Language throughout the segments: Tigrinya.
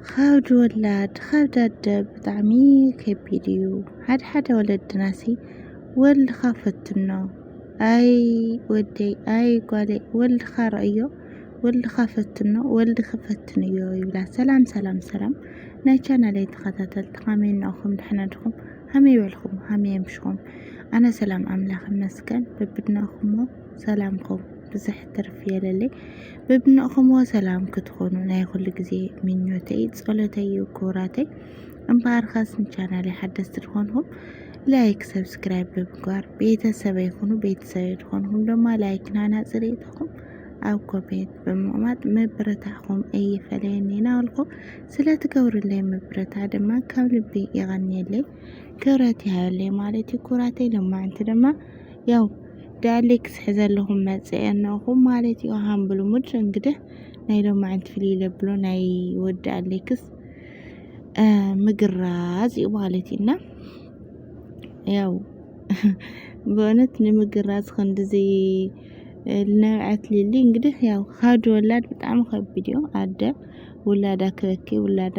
ኻብዲ ወላድ ኻብዲ ኣደ ብጣዕሚ ከቢድ እዩ ሓደ ሓደ ወለድናሲ ወልድኻ ፈትኖ ኣይ ወደይ ኣይ ጓለይ ወልድኻ ረእዮ ወልድኻ ፈትኖ ወልዲ ክፈትን እዮ ይብላ ሰላም ሰላም ሰላም ናይ ቻናለይ ተኸታተልቲ ኻመይ እናኹም ድሕና ድኹም ሀመይ በልኹም ሀመይ ኣምሽኹም ኣነ ሰላም ኣምላኽ ይመስገን በብድናኹሞ ሰላምኩም ብዝሕ ትርፍ የለለይ በብንእኹምዎ ሰላም ክትኾኑ ናይ ኹሉ ግዜ ምኞተይ ጸሎተይ እዩ ክቡራተይ እምበኣርኸስ ንቻናለይ ሓደስቲ ዝኾንኹም ላይክ ሰብስክራይብ ብምግባር ቤተሰበይ ኩኑ ቤተሰበይ ዝኾንኹም ድማ ላይክ ናና ጽሬትኹም ኣብ ኮሜንት ብምቕማጥ ምብርታዕኹም እይፈለየኒ ናበልኩ ስለ ትገብሩለይ ምብርታዕ ድማ ካብ ልቢ ይቐንየለይ ክብረት ይሃበለይ ማለት እዩ ኩራተይ ሎማዕንቲ ድማ ያው ዳያሌክስ ሕዘለኹም መጸ የናኹም ማለት እዩ ሃም ብልሙድ እንግዲህ ናይ ሎማዕንቲ ፍልይ ለብሎ ናይ ወዲ ኣሌክስ ምግራዝ እዩ ማለት እዩና ያው በእውነት ንምግራዝ ክንዲዚ ልነብዐት ሊሊ እንግዲህ ያው ኻድ ወላድ ብጣዕሚ ከቢድ እዩ ኣደ ውላዳ ክበኪ ውላዳ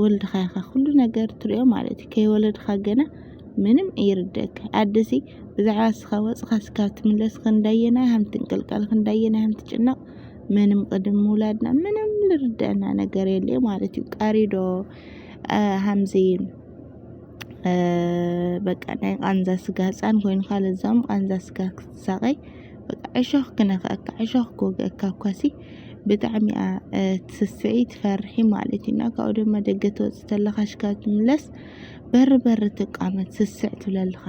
ወልድኻ ኢኻ ኩሉ ነገር ትሪኦ ማለት እዩ ከይወለድኻ ገና ምንም እይርደክ ኣደሲ ብዛዕባ ስኻ ወፅኻ ስካ ትምለስ ክንዳየና ሃም ትንቅልቀል ክንዳየና ሃም ትጭነቕ ምንም ቅድም ምውላድና ምንም ልርደና ነገር የለ ማለት እዩ ቃሪዶ ሃምዚ በቃ ናይ ቃንዛ ስጋ ህፃን ኮይንካ ለዛም ቃንዛ ስጋ ክትሳቐይ በቃ ዕሾኽ ክነኽአካ ዕሾኽ ክወግአካ እኳሲ ብጣዕሚ እያ ትስስዒ ትፈርሒ ማለት እዩ እና ካብኡ ድማ ደገ ተወፅ ተለካ ሽካ ትምለስ በር በር ትቃመት ስስዕ ትብለልካ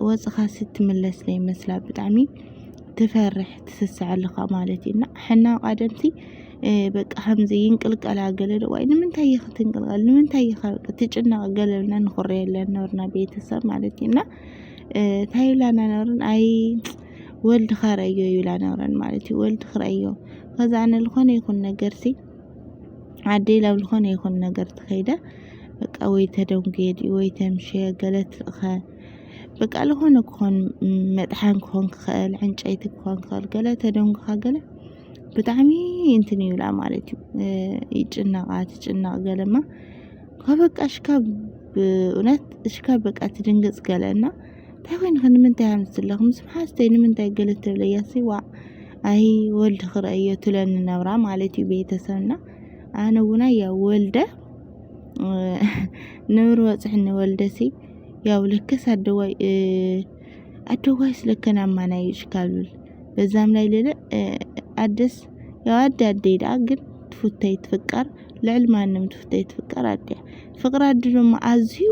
ወፅኻ ስትምለስ ዘይመስላ ብጣዕሚ ትፈርሕ ትስስዐልካ ማለት እዩ እና ሕና ቃደምቲ በቃ ከምዚ ይንቅልቀላ ገለ ዶ ዋይ ንምንታይ እየ ክትንቅልቀል ንምንታይ እየ በቃ ትጭነቅ ገለ ብልና ንኩረየለን ነበርና ቤተሰብ ማለት እዩ እና ታይብላና ነበርን ኣይ ወልድ ኸረዮ ይብል ኣነብረን ማለት እዩ ወልድ ክረዮ ከዛ ኣነ ዝኾነ ይኹን ነገር ሲ ዓደይ ላብ ዝኾነ ይኹን ነገር ትኸይደ በቃ ወይ ተደንጉየድ ወይ ተምሸ ገለት ኸ በቃ ዝኾነ ክኾን መጥሓን ክኾን ክኽእል ዕንጨይቲ ክኾን ክኽእል ገለ ተደንጉኻ ገለ ብጣዕሚ እንትን ይብላ ማለት እዩ ይጭነቃ ትጭነቅ ገለማ ከበቃ ሽካብ እውነት ሽካብ በቃ ትድንግፅ ገለና እንታይ ኮይንኺ ንምንታይ ሃምስ ኣለኺ ምስ መሓዝተይ ንምንታይ ገለ ትብለያሲ ዋእ ኣይ ወልድ ክርእዮ ትብለኒ ነብራ ማለት እዩ ቤተሰብና ኣነ እውን ኣያ ወልደ ነብሪ ወፅሕኒ ወልደሲ ያው ልክስ ኣደዋይ ኣደዋይ ስለከን ኣማናይ ይሽካሉል በዛም ላይ ልለ ኣደስ ያው ኣደ ኣደይ ደኣ ግን ትፉተይ ትፍቀር ልዕሊ ማንም ትፍተይ ትፍቀር ኣደ ፍቅሪ ኣደ ድማ ኣዝዩ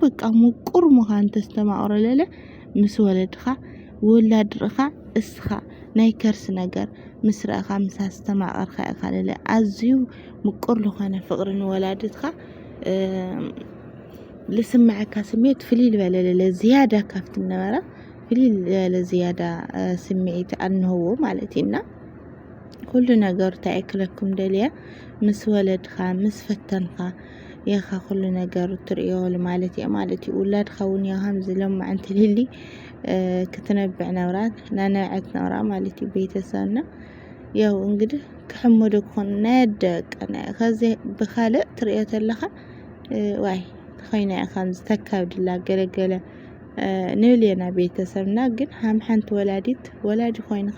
በቃ ምቁር ምዃን ተስተማቕሮ ለለ ምስ ወለድኻ ውላድ ርኢኻ እስኻ ናይ ከርሲ ነገር ምስ ረእኻ ምስ ኣስተማቐርካ ኢኻ ለለ ኣዝዩ ምቁር ዝኾነ ፍቅሪ ንወላድትኻ ልስምዐካ ስሜት ፍልይ ልበለ ለለ ዝያዳ ካብቲ ነበረ ፍልይ ልበለ ዝያዳ ስምዒት ኣንህዎ ማለት እዩና ኩሉ ነገሩ እንታይ እየ ክለኩም ደልየ ምስ ወለድኻ ምስ ፈተንኻ ኢኻ ኩሉ ነገሩ ትርእዮ ማለት እየ ማለት እዩ ውላድኻ እውን ያው ከምዚ ለማዕ እንትልሊ ክትነብዕ ነብራ ናነብዐት ነብራ ማለት እዩ ቤተሰብና ያው እንግዲህ ክሕመዶ ክኾን ናይ ኣደ ቀና ከዚ ብካልእ ትርእዮ ተለኻ ዋይ ተኸይና እያ ከምዚ ተካብድላ ገለገለ ንብል ኢና ቤተሰብና ግን ሃም ሓንቲ ወላዲት ወላዲ ኮይንኻ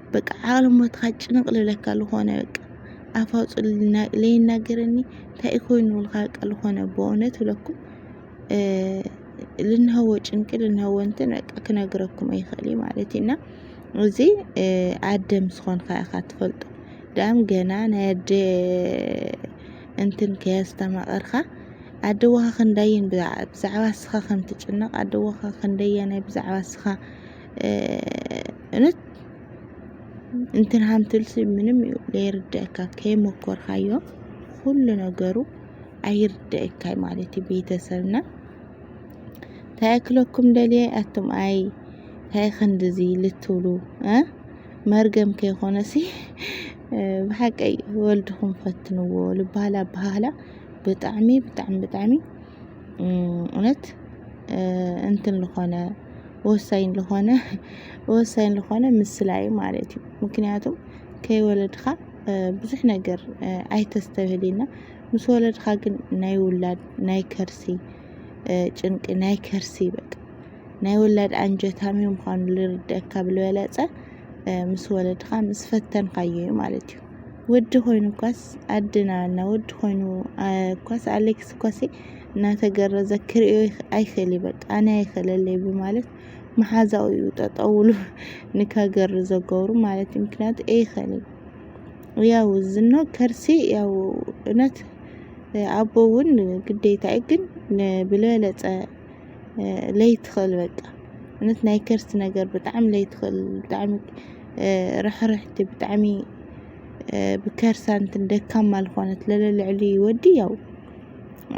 በቃ ዓለሞትኻ ጭንቕ ልብለካ ዝኾነ በቃ ኣፍ ኣውፅኡ ለይናገረኒ እንታይ እዩ ኮይኑ ልካ በቃ ዝኾነ ብእውነት ብለኩም ልንሀወ ጭንቂ ልንሀወ እንትን በቃ ክነግረኩም ኣይኽእል እዩ ማለት እዩ እና እዚ ኣደ ምስ ኾንካ ኢኻ ትፈልጦ ዳም ገና ናይ ኣደ እንትን ከየስተማቐርካ ኣደዋኻ ክንዳየን ብዛዕባ ስኻ ከም ትጭነቕ ኣደዋኻ ክንደየናይ ብዛዕባ ስኻ እውነት እንትን ሃንትልሲ ምንም እዩ ለይርድአካ ከይሞከርካዮ ኩሉ ነገሩ ኣይርድአካይ ማለት እዩ ቤተሰብና እንታይ ክለኩም ደልየ ኣቱም ኣይ እንታይ ክንድዚ ልትብሉ መርገም ከይኮነሲ ብሓቀይ ወልድኹም ፈትንዎ ልባህላ ኣባሃህላ ብጣዕሚ ብጣዕሚ ብጣዕሚ እውነት እንትን ዝኾነ ወሳኝ ልኾነ ወሳኝ ልኾነ ምስላ እዩ ማለት እዩ ምክንያቱ ከይወለድኻ ብዙሕ ነገር ኣይተስተብህልና ምስ ወለድኻ ግን ናይ ውላድ ናይ ከርሲ ጭንቂ ናይ ከርሲ በቃ ናይ ውላድ ኣንጀታሚ ምዃኑ ልርደካ ብልበለፀ ምስ ወለድኻ ምስ ፈተንካዮ እዩ ማለት እዩ ወዲ ኮይኑ እኳስ ኣድና እና ወዲ ኮይኑ እኳስ ኣሌክስ እኳሲ እናተገረዘ ክርእዮ ኣይክእልይ በቃ ኣነ ኣይክእለለይ ብማለት መሓዛኡ እዩ ጠጠውሉ ንከገርዞ ገብሩ ማለት እዩ ምክንያቱ ኣይክእልይ ያው ዝኖ ከርሲ ያው እውነት ኣቦ እውን ግዴታ እዩ ግን ብልበለፀ ለይትኽእል በቃ እውነት ናይ ከርሲ ነገር ብጣዕሚ ለይትኽእል ብጣዕሚ ርሕርሕቲ ብጣዕሚ ብከርሳ እንትን ደካማ ዝኾነት ለለልዕሊ ወዲ ያው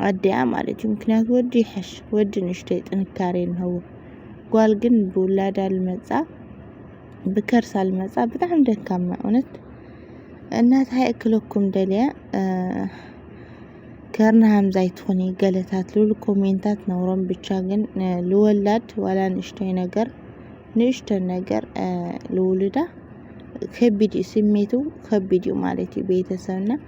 ኣዲኣ ማለት እዩ ምክንያቱ ወዲ ይሐሽ ወዲ ንእሽተይ ጥንካሬ እንሀዎ ጓል ግን ብውላዳ ልመፃ ብከርሳ ልመፃ ብጣዕሚ ደካማ እውነት እና እንታይ እክለኩም ደልያ ከርና ሃምዛይ ትኹኒ ገለታት ልብል ኮሜንታት ነውሮም ብቻ ግን ልወላድ ዋላ ንእሽተይ ነገር ንእሽተን ነገር ልውልዳ ከቢድ እዩ ስሜቱ ከቢድ እዩ ማለት እዩ ቤተሰብና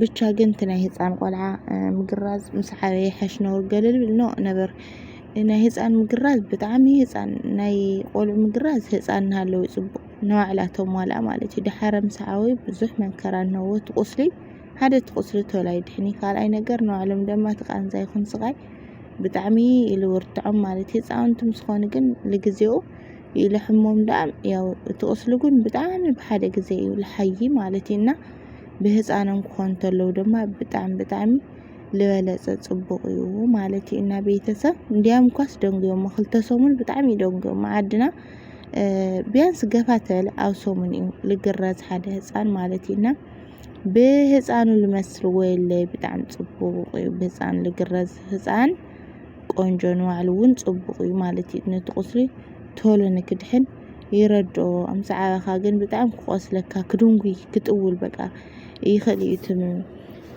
ብቻ ግን እቲ ናይ ህፃን ቆልዓ ምግራዝ ምስ ዓበየ ይሐሽ ነውር ገልልብል ኖእ ነበር ናይ ህፃን ምግራዝ ብጣዕሚ ህፃን ናይ ቆልዑ ምግራዝ ህፃን እናሃለወ እዩ ፅቡቅ ንባዕላ ተሟልኣ ማለት እዩ ድሓረ ምስ ዓበዩ ብዙሕ መከራ እነሆ እቲ ቁስሊ ሓደ እቲ ቁስሊ ቶሎ ኣይድሕን እዩ ካልኣይ ነገር ንባዕሎም ድማ እቲ ቃንዛ ይኹን ስቃይ ብጣዕሚ ኢሉ ይርትዖም ማለት እዩ ህፃውንቲ ምስ ኾኑ ግን ንግዜኡ ይልሕሞም ደኣ ያው እቲ ቁስሊ ግን ብጣዕሚ ብሓደ ግዜ እዩ ልሓዪ ማለት እዩ እና ብህፃኖም ክኾኑ ተለው ድማ ብጣዕሚ ብጣዕሚ ልበለፀ ፅቡቅ እዩ ማለት እዩ እና ቤተሰብ እንዲያም እኳስ ደንጉዮሞ ክልተ ሰሙን ብጣዕሚ እዩ ደንጉዮሞ ዓድና ቢያንስ ገፋ ተበለ ኣብ ሰሙን እዩ ልግረዝ ሓደ ህፃን ማለት እዩ እና ብህፃኑ ልመስልዎ የለ ብጣዕሚ ፅቡቅ እዩ ብህፃን ልግረዝ ህፃን ቆንጆ ንባዕሉ እውን ፅቡቅ እዩ ማለት እዩ ነቲ ቁስሊ ቶሎ ንክድሕን ይረድኦ ምስ ዓበኻ ግን ብጣዕሚ ክቆስለካ ክድንጉይ ክጥውል በቃ ይኽእል እዩ እቲ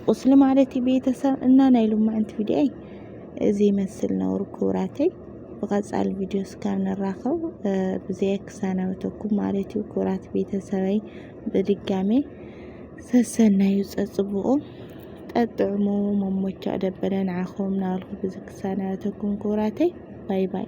ቁስሊ ማለት እዩ ቤተሰብ እና ናይ ሎማዕንቲ ቪድዮይ እዚ ይመስል ነውሩ ክብራተይ ብቐጻሊ ቪድዮ እስካብ ንራኸብ ብዘይ ክሰናበተኩም ማለት እዩ ክብራት ቤተሰበይ ብድጋሜ ሰሰናዩ ጸጽቡቑ ጠጥዕሙ መሞቻ ደበለ ንዓኹም ናብልኩ ብዚ ክሰናበተኩም ክብራተይ ባይ ባይ